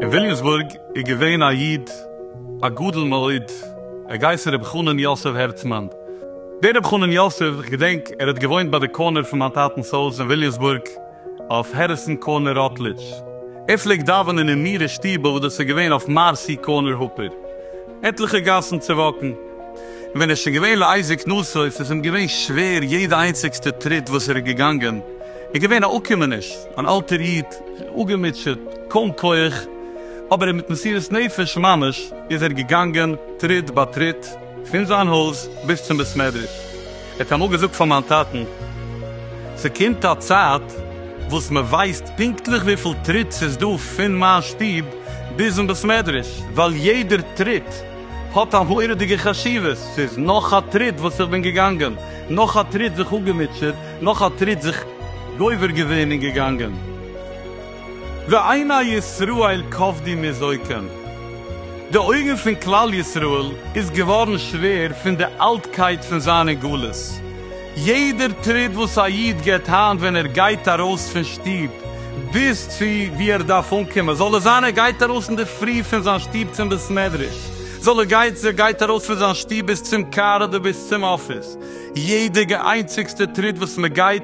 אין וויליאמסבורג איז געווען א איד א גדול מאוד, ער גייסן רבי חנן יוסף הערצמאן. דער רבי חנן יוסף, איך געדענק ער האט געוואוינט ביי די קארנער פון מיין טאטנ'ס הויז אין וויליאמסבורג, אויף העריסאן קארנער ראטלידזש. ער פלעגט דאווענען אין מירער שטיבל וואס דאס איז געווען אויף מארסי קארנער הופער עטליכע גאסן צווואקן. און ווען ער איז שוין געווען לעיזי קנאות'עס איז אים געווען שווער יעדע איינציגסטע טריט וואס ער איז געגאנגען. ער איז געווען א אפקומעניש, אן אלטער איד, אפגעמוטשעט, קוים כח, אבער מיט מסירות נפש ממש איז ער געגאנגען טריט ביי טריט פון זיין הויז ביז צום בית מדרש. ער האט אמאל געזאגט פאר מיין טאטן, ס'קומט א צייט וואס מען ווייסט פונקטליך וויפיל טריט ס'איז דא פון מיין שטוב ביזן בית מדרש, ווייל יעדער טריט האט א מורא'דיגע חשיבות, ס'איז נאך א טריט וואס איך בין געגאנגען, נאך א טריט זיך אפגעמוטשעט, נאך א טריט זיך גובר געווען און געגאנגען. ועיני ישראל כבדי מזויתן, די אויגן פון כלל ישראל איז געווארן שווער פון די אלטקייט פון זיין אין גלות, יעדער טריט וואס א איד גיבט היינט ווען ער גייט ארויס פון שטוב ביז צו וואו ער דארף אנקומען, זאל עס זיין ער גייט ארויס אינדערפרי פון זיין שטוב צום בית מדרש, זאל ער גייט ער גייט ארויס פון זיין שטוב ביז צום קאר אדער ביז צום אפיס, יעדע איינציגסטע טריט וואס מען גייט,